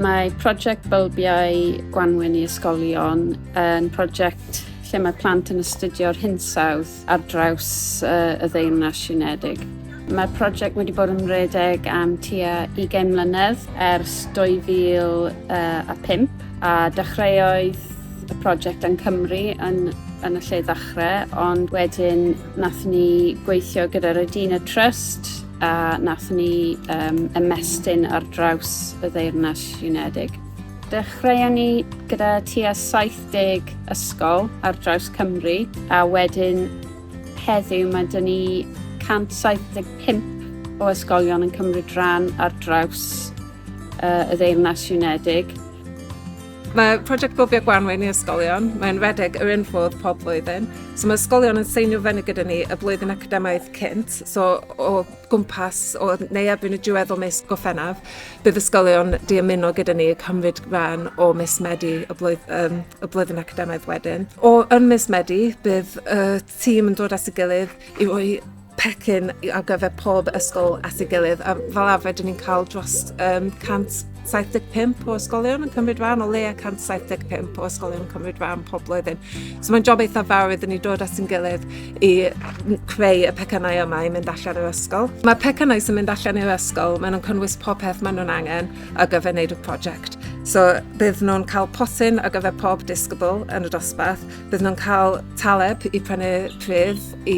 Mae prosiect Bylbiau Gwanwyn i Ysgolion yn prosiect lle mae plant yn astudio'r hinsawdd ar draws uh, y ddeyrnas siwnedig. Mae'r prosiect wedi bod yn rhedeg am tua 20 mlynedd ers 2005 a dechreuoedd y prosiect yn Cymru yn, yn y lle ddechrau, ond wedyn nath ni gweithio gyda'r Edina Trust a nath ni um, ymestyn ar draws y ddeyrnas Unedig. Dechreuon ni gyda tua 70 ysgol ar draws Cymru a wedyn heddiw mae dyn ni 175 o ysgolion yn cymryd rhan ar draws uh, y ddeyrnas Unedig. Mae prosiect Bwfio Gwanwyn i ysgolion, mae'n redeg yr un ffordd pob blwyddyn. So mae ysgolion yn seinio fyny gyda ni y blwyddyn academaidd cynt, so o gwmpas o neu erbyn y diwedd o mis Goffennaf, bydd ysgolion di ymuno gyda ni cymryd rhan o mis Medi y, blwydd, um, y blwyddyn academaidd wedyn. O yn mis Medi, bydd y tîm yn dod at y gilydd i roi pecyn ar gyfer pob ysgol at ei gilydd. A fel arfer, dyn ni'n cael dros um, 175 o ysgolion yn cymryd rhan, o leia 175 o ysgolion yn cymryd rhan pob blwyddyn. So mae'n job eitha fawr iddyn ni dod at yn gilydd i creu y pecynau yma i mynd allan i'r ysgol. Mae pecynau sy'n mynd allan i'r ysgol, maen nhw'n cynnwys pob peth maen nhw'n angen ar gyfer wneud y prosiect. So bydd nhw'n cael potyn ar gyfer pob disgybl yn y dosbarth, Bydd nhw'n cael taleb i prynu pridd i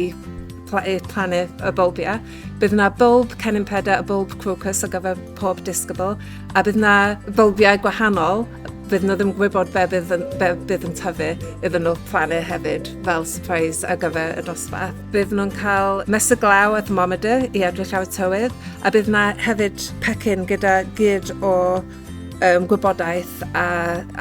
plannu y bylbiau. Bydd yna bylb cennin peda a bylb crocus o gyfer pob disgybl, a bydd yna bylbiau gwahanol bydd nhw ddim yn gwybod be bydd, yn, be bydd yn tyfu iddyn nhw plannu hefyd fel surprise ar gyfer y dosbarth. Bydd nhw'n cael mesur glaw a thermometer i edrych ar y tywydd a bydd yna hefyd pecyn gyda gyd o um, gwybodaeth a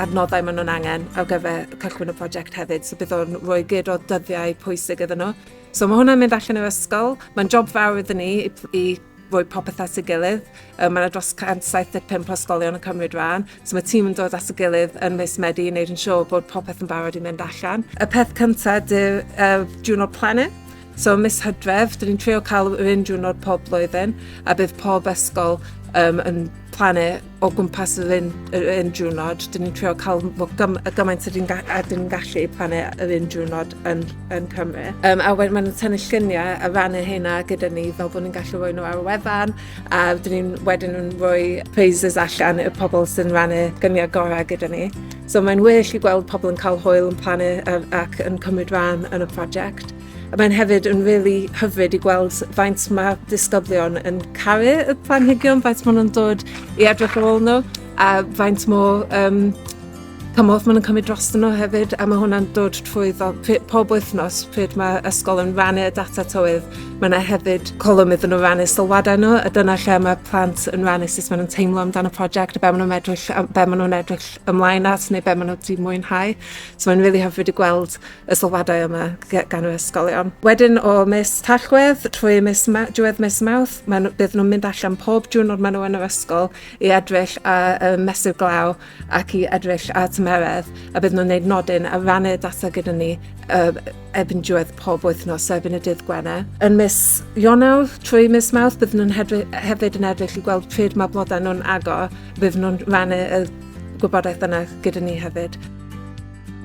adnoddau maen nhw'n angen ar gyfer cychwyn y prosiect hefyd. So bydd o'n rhoi gyd o dyddiau pwysig iddyn nhw. So mae hwnna'n mynd allan o'r ysgol. Mae'n job fawr iddyn ni i, i roi popeth at ei gilydd. Um, mae yna dros 175 ysgolion yn cymryd rhan, so mae tîm yn dod at ei gilydd yn mis Medi i wneud yn siŵr bod popeth yn barod i mynd allan. Y peth cyntaf, dy'r uh, Juno Planet, So mis Hydref, dyn ni'n trio cael yr un diwrnod pob blwyddyn, a bydd pob ysgol um, yn plannu o gwmpas yr un, yr un diwrnod. Dyn ni'n trio cael gym, y gymaint a dyn ni'n gallu plannu yr un diwrnod yn, yn Cymru. Um, a wedyn mae'n tynnu lluniau a rannu hynna gyda ni fel bod ni'n gallu rhoi nhw ar y wefan a dyn ni'n wedyn yn rhoi praises allan y pobl sy'n rannu gyniau gorau gyda ni. So mae'n well i gweld pobl yn cael hwyl yn plannu ac yn cymryd rhan yn y prosiect. A mae'n hefyd yn really hyfryd i gweld faint mae disgyblion yn caru y planhigion, faint maen nhw'n dod i edrych ar ôl nhw a faint mo um, cymorth maen nhw'n cymryd dros nhw hefyd a mae hwnna'n dod trwy fel pob wythnos pryd mae ysgol yn rannu y data tywydd mae yna hefyd colwm iddyn nhw rannu sylwadau nhw a dyna lle mae plant yn rannu sut maen nhw'n teimlo amdano prosiect a be maen nhw'n edrych, be maen nhw'n edrych ymlaen at neu be maen nhw wedi mwynhau. So mae'n really hyfryd i gweld y sylwadau yma gan yr ysgolion. Wedyn o mis Tachwedd trwy mis Ma diwedd mis Mawrth, maen nhw, bydd nhw'n mynd allan pob diwrnod maen nhw yn yr ysgol i edrych a uh, mesur glaw ac i edrych a tymeredd a bydd nhw'n gwneud nodyn a rannu data gyda ni uh, erbyn diwedd pob wythnos, so erbyn y dydd Gwener. Yn mis Ionawr trwy mis Mawrth bydd nhw'n hefyd yn edrych i gweld pryd mae blodau nhw'n agor Bydd nhw'n rannu y gwybodaeth yna gyda ni hefyd.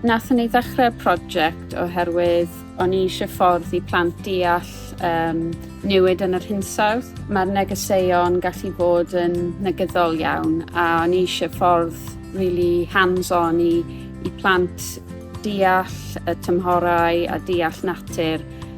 Nathon ni ddechrau'r prosiect oherwydd o'n i eisiau ffordd i plant deall um, newid yn yr hinsawdd. Mae'r negeseuon gallu bod yn negyddol iawn a o'n i eisiau ffordd really hands-on i, i plant deall y tymhorau a deall natur